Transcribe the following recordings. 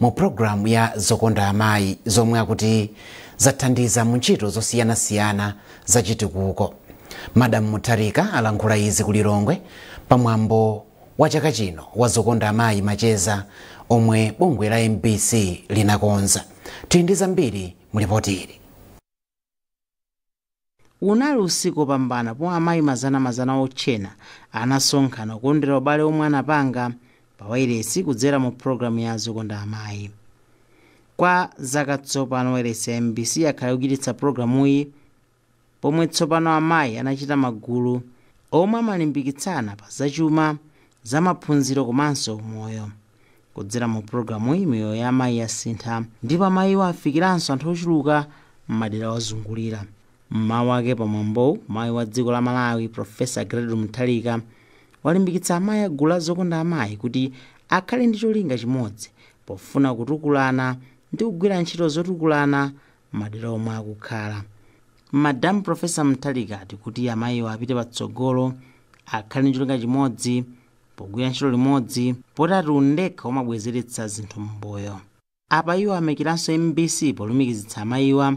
mu programu ya Zokonda Amayi zomwe akuti zathandiza mu ntchito zosiyanasiyana za chitukuko. Madam Mutharika alankhula izi ku Lilongwe pa mwambo wa chaka chino wa Zokonda Amayi Macheza omwe bungwe la MBC linakonza. Tili ndi zambiri mu lipoti ili. Unali usiku wopambana pomwe amayi mazanamazana otchena anasonkhana kukondwera ubale womwe anapanga pa wailesi kudzera mu program ya Zokonda Amayi. Kwa zaka tsopano wailesi ya mbc yakhala ikuchititsa programuyi pomwe tsopano amayi anachita magulu omwe amalimbikitsana pa zachuma zamaphunziro komanso umoyo. Kudzera mu pulogalamuyi, miyoyo ya amayi yasintha ndipo amayiwa afikiranso anthu ochuluka m'madera owazungulira. M'mawu ake pa mwambowu, mayi wa dziko la Malawi, Professor Gertrude Mutharika, walimbikitsa amayi a gulu la Zokonda Amayi kuti akhale ndi cholinga chimodzi pofuna kutukulana ndi kugwira ntchito zotukulana madera omwe akukhala madamu profesa mutharika ati kuti amayiwo apite patsogolo akhale ndi cholinga chimodzi pogwira ntchito limodzi potiati undekha umabwezeretsa zinthu m'mbuyo apa iwo ayamikiranso mbc polumikizitsa amayiwa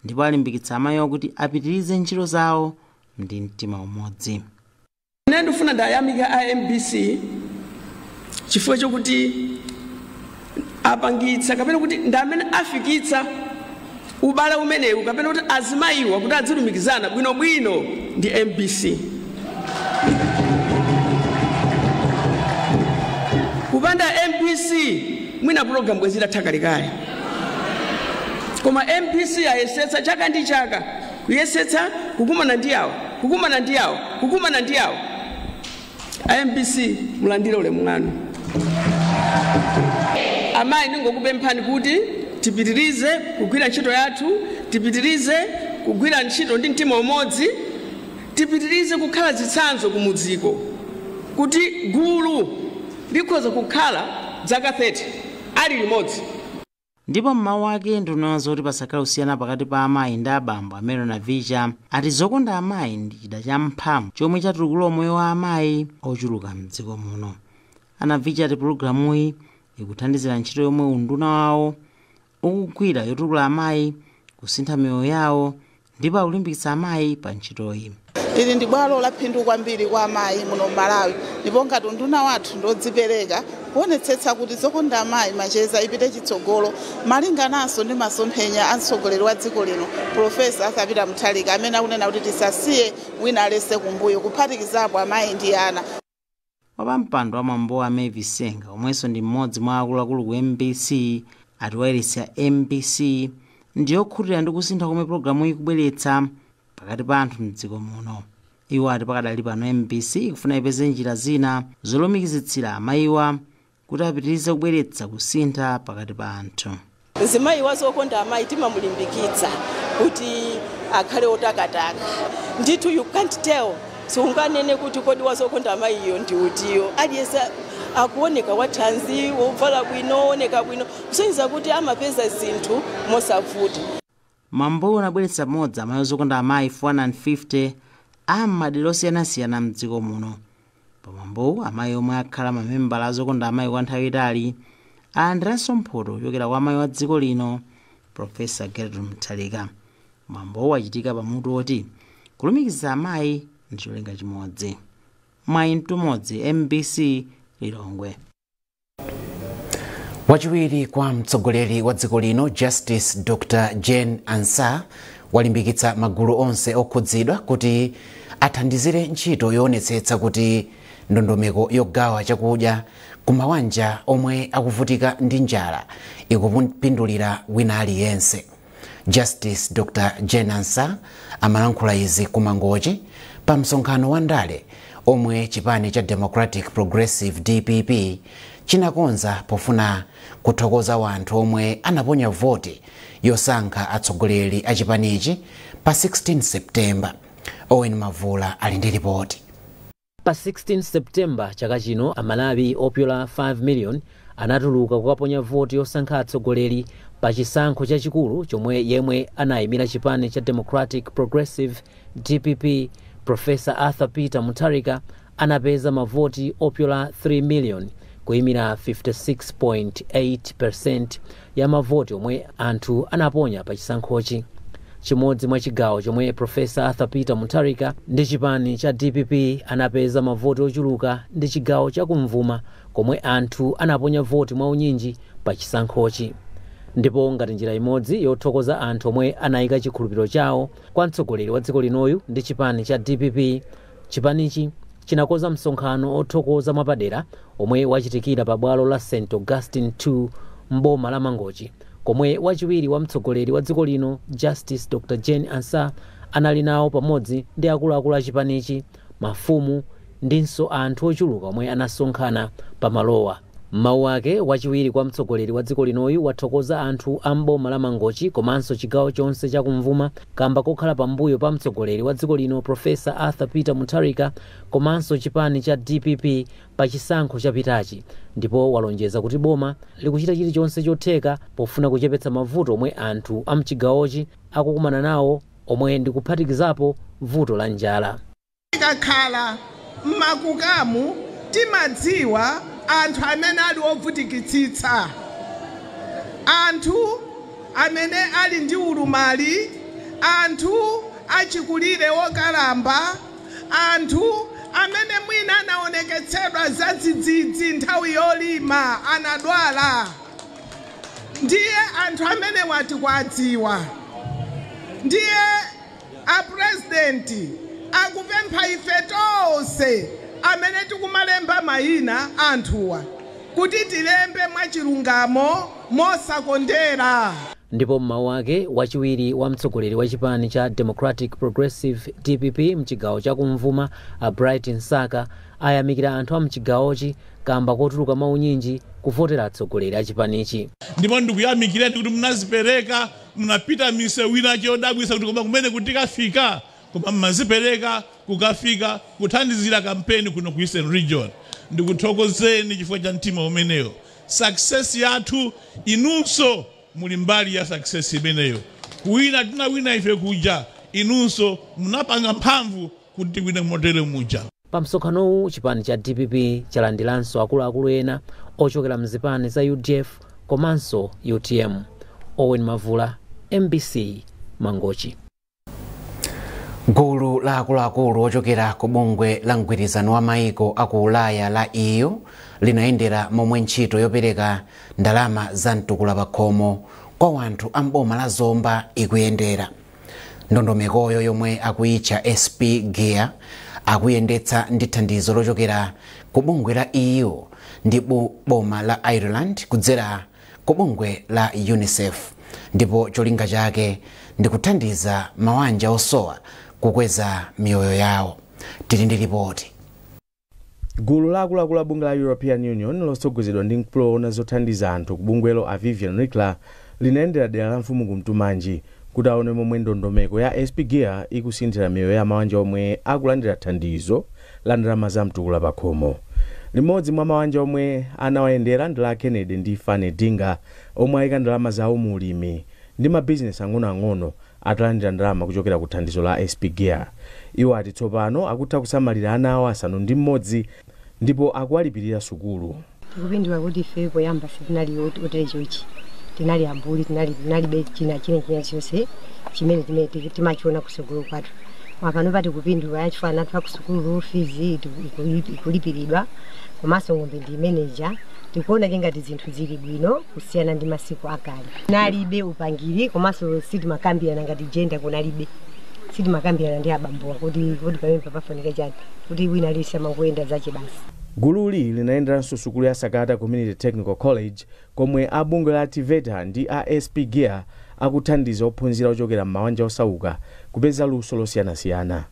ndipo alimbikitsa amayiwa kuti apitirize ntchito zawo ndi mtima umodzi Ine ndifuna ndiwayamike a mbc chifukwa chokuti apangitsa kapena kuti ndi amene afikitsa ubale umenewu kapena kuti azimayiwa kuti adzilumikizana bwinobwino ndi mbc kupanda mbc mwina pulogalamu bwezi itatha kalekale koma mbc ayesetsa chaka ndi chaka Kuyesetsa kukumana ndi awa, kukumana ndi awa, kukumana ndi awa. A mbc mulandire ulemu wanu. Amayi ndingokupemphani kuti tipitirize kugwira ntchito yathu, tipitirize kugwira ntchito ndi mtima umodzi, tipitirize kukhala zitsanzo kumudziku kuti gulu likhoza kukhala dzaka 30 ali limodzi. Ndipo m'mawu ake nduna yoona zoti pasakhale kusiyana pakati pa amayi ndi abambo a Mary Navicha ati zokonda amayi ndi chida cha mphamvu chomwe chatukula umoyo wa amayi ochuluka mdziko muno. A Navicha ati pulogalamuyi ikuthandizira ntchito yomwe unduna wawo ukugwira yotukula amayi, kusintha miyoyo yawo ndipo akulimbikitsa amayi pa ntchitoyi. Ili ndi bwalo laphindu kwambiri kwa amayi muno m'Malawi ndipo ngati unduna wathu ndiodzipereka kuonetsetsa kuti zokonda amayi macheza ipite chitsogolo malingananso ndi masomphenya a mtsogoleri wa dziko lino Professor Arthur Peter Mutharika amene akunena kuti tisasiye wina aliyense kumbuyo kuphatikizapo amayi ndi ana. Wapampando wa mwambowu a Mavis Senga omwenso ndi mmodzi mwa akuluakulu ku mbc ati wailesi ya mbc ndiyokhutira ndi kusintha komwe pulogalamuyi ikubweretsa pakati pa anthu mdziko muno. Iwo ati pakadali pano mbc ikufuna ipeze njira zina zolumikizitsira amayiwa kuti apitirize kubweretsa kusintha pakati pa anthu. Mzimayi wa Zokonda Amayi timamulimbikitsa kuti akhale otakataka ndithu you can't tell siunganene kuti kodi wa Zokonda Amayiyo ndi utiyo aliyense akuoneka wa thanzi wovala bwino wooneka bwino kusonyeza kuti amapeza zinthu mosavuta. Mwambowu unabweretsa pamodzi amayi a Zokonda Amayi 450 a m'madera osiyanasiyana m'dziko muno. Pa mwambowu, amayi omwe akhala mamembala a Zokonda Amayi kwa nthawi itali alandiranso mphoto kuchokera kwa amayi wa dziko lino, Prof. Gertrude Mutharika. Mwambowu wachitika pa mutu woti Kulumikiza amayi ndi cholinga chimodzi. Mwayi Mtumodzi, mbc, Lilongwe. wachiwiri kwa mtsogoleri wa dziko lino justice dr jane ansah walimbikitsa magulu onse okhudzidwa kuti athandizire ntchito yoonetsetsa kuti ndondomeko yogawa chakudya ku mawanja omwe akuvutika ndi njala ikupindulira wina aliyense Justice Dr Jane Ansah amalankhula izi ku Mangochi pa msonkhano wa ndale omwe chipani cha Democratic Progressive DPP chinakonza pofuna kuthokoza wanthu omwe anaponya voti yosankha atsogoleri a chipanichi pa 16 September. Owen Mavula ali ndi lipoti. Pa 16 September chaka chino, Amalawi opyola 5 million anatuluka kukaponya voti yosankha atsogoleri pa chisankho chachikulu chomwe yemwe anayimira chipani cha Democratic Progressive, dpp, Professor Arthur Peter Mutharika anapeza mavoti opyola 3 million kuyimira 56.8% ya mavoti omwe anthu anaponya pa chisankhochi. Chimodzi mwa chigawo chomwe Professor Arthur Peter Mutharika ndi chipani cha dpp anapeza mavoti ochuluka ndi chigawo cha kumvuma komwe anthu anaponya voti mwa unyinji pa chisankhochi. Ndipo ngati njira imodzi yothokoza anthu omwe anayika chikhulupiriro chawo kwa mtsogoleri wa dziko linoyu ndi chipani cha dpp, Chipanichi chinakonza msonkhano othokoza mwapadera omwe wachitikira pa bwalo la St Augustine 2 m'boma la Mangochi komwe wachiwiri wa mtsogoleri wa dziko lino Justice Dr Jane Ansah anali nawo pamodzi ndi akuluakulu a chipanichi, mafumu ndinso anthu ochuluka omwe anasonkhana pa malowa. M'mawu ake, wachiwiri kwa mtsogoleri wa dziko linoyu wathokoza anthu a m'boma la Mangochi komanso chigawo chonse cha kum'vuma kamba kokhala pambuyo pa mtsogoleri wa dziko lino Professor Arthur Peter Mutharika komanso chipani cha dpp pa chisankho chapitachi ndipo walonjeza kuti boma likuchita chilichonse chotheka pofuna kuchepetsa mavuto omwe anthu a mchigawochi akukumana nawo omwe ndikuphatikizapo vuto la njala. Tikakhala m'makukamu timadziwa anthu amene ali ovutikitsitsa, anthu amene ali ndi ulumali, anthu achikulire okalamba, anthu amene mwina anaonekeredwa zadzidzidzi nthawi yolima anadwala ndiye anthu amenewa tikuadziwa ndiye. A president akupempha ife tonse amene tikumalemba maina a anthuwa kuti tilembe mwachilungamo mosakondera. Ndipo m'mawu ake, wachiwiri wa mtsogoleri wa chipani cha Democratic Progressive, dpp, mchigawo cha kumvuma a Bright Msaka ayamikira anthu a mchigawochi kamba kotuluka mwaunyinji kuvotera atsogoleri a chipanichi. Ndipo ndikuyamikireni kuti munazipereka Munapita misewu ina chodabwitsa kuti koma kumeneku tikafika? Koma mmazipereka kukafika kuthandizira kampeni kuno ku Eastern Region. Ndikuthokozeni chifukwa cha mtima umenewo. Success yathu inunso muli mbali ya success imeneyo. Kuwina tinawina ife kuja inunso munapanga mphamvu kuti tiwine motere muja. Pa msonkhanowu chipani cha dpp chalandiranso akuluakulu ena ochokera mzipani za udf komanso utm. Owen Mavula, mbc, Mangochi. Gulu la akuluakulu ochokera ku bungwe la mgwirizano wa maiko a ku Ulaya la EU linayendera momwe ntchito yopereka ndalama za mtukula pakhomo kwa wanthu a m'boma la Zomba ikuyendera. Ndondomekoyo yomwe akuyitcha SP Gear akuyendetsa ndi thandizo lochokera ku bungwe la EU ndi boma la Ireland kudzera ku bungwe la UNICEF ndipo cholinga chake ndi kuthandiza mawanja osowa kukweza miyoyo yawo. Tili ndi lipoti. Gulu la akuluakulu a bungwe la European Union lotsogozedwa ndi mkulu owona zothandiza anthu ku bungwelo a Vivian Ricla linayendera dera la mfumu Kuntumanji kuti aone momwe ndondomeko ya SP Gear ikusinthira miyoyo ya mawanja omwe akulandira thandizo la ndalama za mtukula pakhomo. Limodzi mwa mawanja omwe anawayendera ndi la a Kennedy ndi Fanny Dinga omwe ayika ndalama zawo mu ulimi ndi mabizinesi ang'onoang'ono Atalandira ndalama kuchokera ku thandizo la SP-GEAR, iwo ati tsopano akutha kusamalira ana awo asanu ndi mmodzi ndipo akuwalipirira sukulu. Tikupindula kuti ife poyamba sitinali otere chonchi, tinali ambuli, tinali tinalibe china china chilichonse chimene chimene tili timachiona kutsogolo kwathu. Koma panopa tikupindula chifukwa ana athu akusukulu fizi iku- iku- ikulipiridwa komanso ng'ombe ndi imene ija. tikuona kuti ngati zinthu zili bwino kusiyana ndi masiku akale kunalibe upangiri komanso sitimakambirana ngati jenda kunalibe sitimakambirana ndi abambowa kuti kuti pamene pafunika chani kuti wina aliyense amangoyenda zache basi gululi linayenderanso sukulu ya sakata community technical college komwe a bungwe la TEVETA ndi a sp gear akuthandiza ophunzira ochokera m'mabanja osauka kupeza luso losiyanasiyana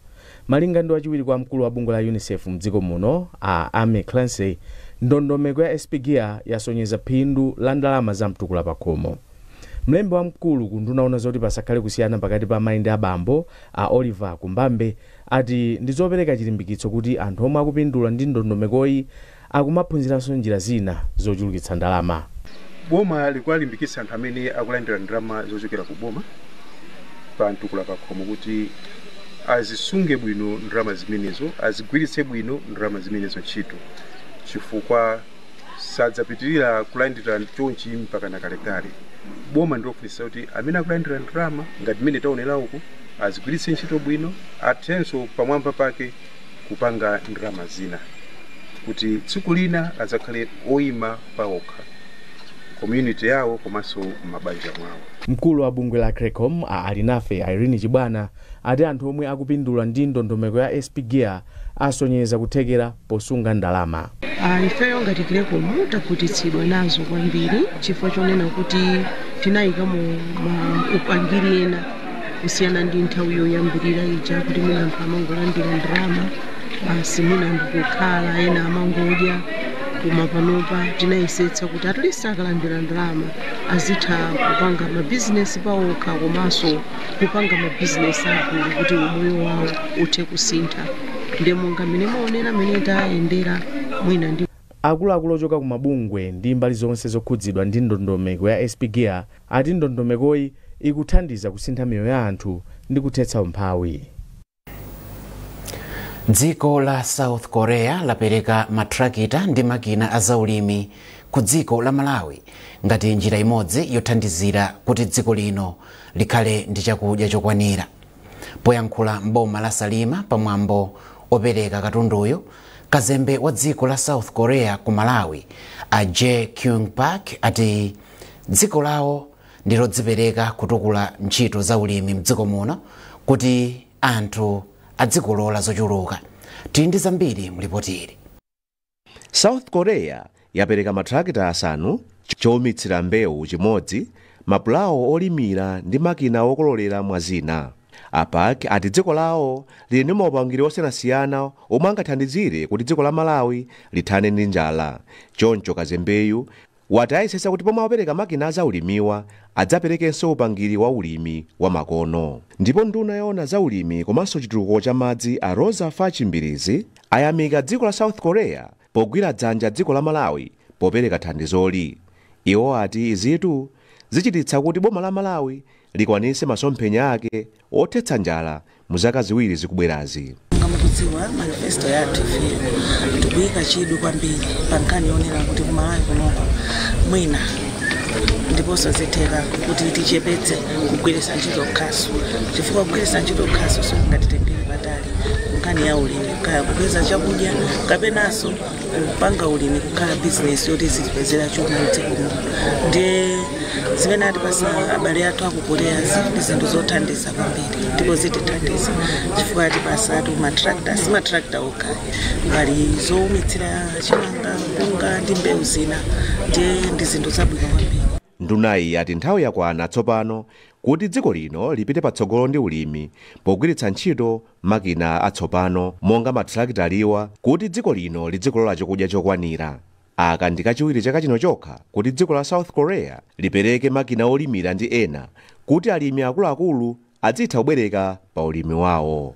Malinga ndi wachiwiri kwa mkulu wa bungwe la Unicef mdziko muno a Amy Clancy, ndondomeko ya SP-GEAR yasonyeza phindu la ndalama za mtukula pakhomo. Mlembi wamkulu ku unduna woona zoti pasakhale kusiyana pakati pa amayi ndi abambo, a Oliver Kumbambe, ati ndi zopereka chilimbikitso kuti anthu omwe akupindula ndi ndondomekoyi akumaphunziranso njira zina zochulukitsa ndalama. Boma likuwalimbikitsa anthu amene akulandira ndalama zochokera ku boma pa mtukula pakhomo kuti azisunge bwino ndalama zimenezo, azigwiritse bwino ndalama zimenezo ntchito chifukwa sadzapitirira kulandira chonchi mpakana kalekale. Boma ndi lofunitsitsa kuti amene akulandira ndalama ngati mmene taonera uku azigwiritse ntchito bwino, athenso pamwamba pake. kupanga ndalama zina kuti tsiku lina adzakhale oima paokha community yawo komanso m'mabanja mwawo. Mkulu wa bungwe la Creccom, a Alinafe Irene Chibwana, ati anthu omwe akupindula ndi ndondomeko ya SP-GEAR asonyeza kuthekera posunga ndalama. Ah, ifeyo ngati Creccom takhutitsidwa nazo kwambiri chifukwa chonena kuti tinayikamo upangiri ena kusiyana ndi nthawi yoyambirira ija kuti mwina anthu amangolandira ndalama basi mwina ndikukhala ena amangodya koma panopa tinayesetsa kuti at least akalandira ndalama azitha kupanga mabizinesi pawokha komanso kupanga mabizinesi agulu kuti umoyo wawo uthe kusintha ndi monga mmene mwaonera mmene tayendera mwina ndi Akuluakulu ochoka ku mabungwe ndi mbali zonse zokhudzidwa ndi ndondomeko ya SP-GEAR ati ndondomekoyi ikuthandiza kusintha miyoyo ya anthu ndi kuthetsa umphawi. dziko la south korea lapereka mathirakitala ndi makina azaulimi ku dziko la malawi ngati njira imodzi yothandizira kuti dziko lino likhale ndi chakudya chokwanira Poyankhula m'boma la Salima pa mwambo opereka katunduyu, kazembe wa dziko la South Korea ku Malawi a Jae Kyung Park ati dziko lawo ndi lodzipereka kutukula ntchito za ulimi mdziko muno kuti anthu adzikolola zochuluka. Tili ndi zambiri mu lipoti ili. South Korea yapereka matrakita asanu, choumitsira mbewu chimodzi, mapulawo olimira ndi makina okololera mwa zina. A Park ati dziko lawo lili ndi maupangiri osiyanasiyana omwe angathandizire kuti dziko la Malawi lithane ndi njala choncho kazembeyu wati ayesetsa kuti pomwe apereka makina a za ulimiwa adzaperekenso upangiri wa ulimi wa makono. Ndipo nduna yoona za ulimi komanso chitukuko cha madzi a Roza Fatch Mbilizi ayamika dziko la South Korea pogwira dzanja dziko la Malawi popereka thandizoli. Iwo ati izitu zichititsa kuti boma la Malawi likwanise masomphenya ake othetsa njala mu zaka ziwiri zikubwerazi. Ngati mukudziwa manifesto yathu ife tikuyika chidwi kwambiri pa nkhani yoonera kuti ku Malawi kuno mwina ndiponso zitheka kuti tichepetse kugwiritsa ntchito khasu chifukwa kugwiritsa ntchito khasu sikungatitengere patali nkhani ya ulimi kaya kupeza chakudya kapenanso kupanga ulimi kukhala bizinesi yoti zitipezera chuma mdziko muno ndiye zimene atipasa abale athu aku Korea ndi zinthu zothandiza kwambiri ndipo zitithandiza chifukwa atipasatu matrakta si matrakta okha pali zowumitsira chimanga mpunga ndi mbewu zina ndiye ndi zinthu zabwino kwambiri Ndunayi ati nthawi yakwana tsopano kuti dziko lino lipite patsogolo ndi ulimi pogwiritsa ntchito makina atsopano monga mathalakitalawa kuti dziko lino lidzikolola chokudya chokwanira. Aka ndi kachiwiri chaka chino chokha kuti dziko la South Korea lipereke makina olimira ndi ena kuti alimi akuluakulu adzitha kubwereka pa ulimi wawo.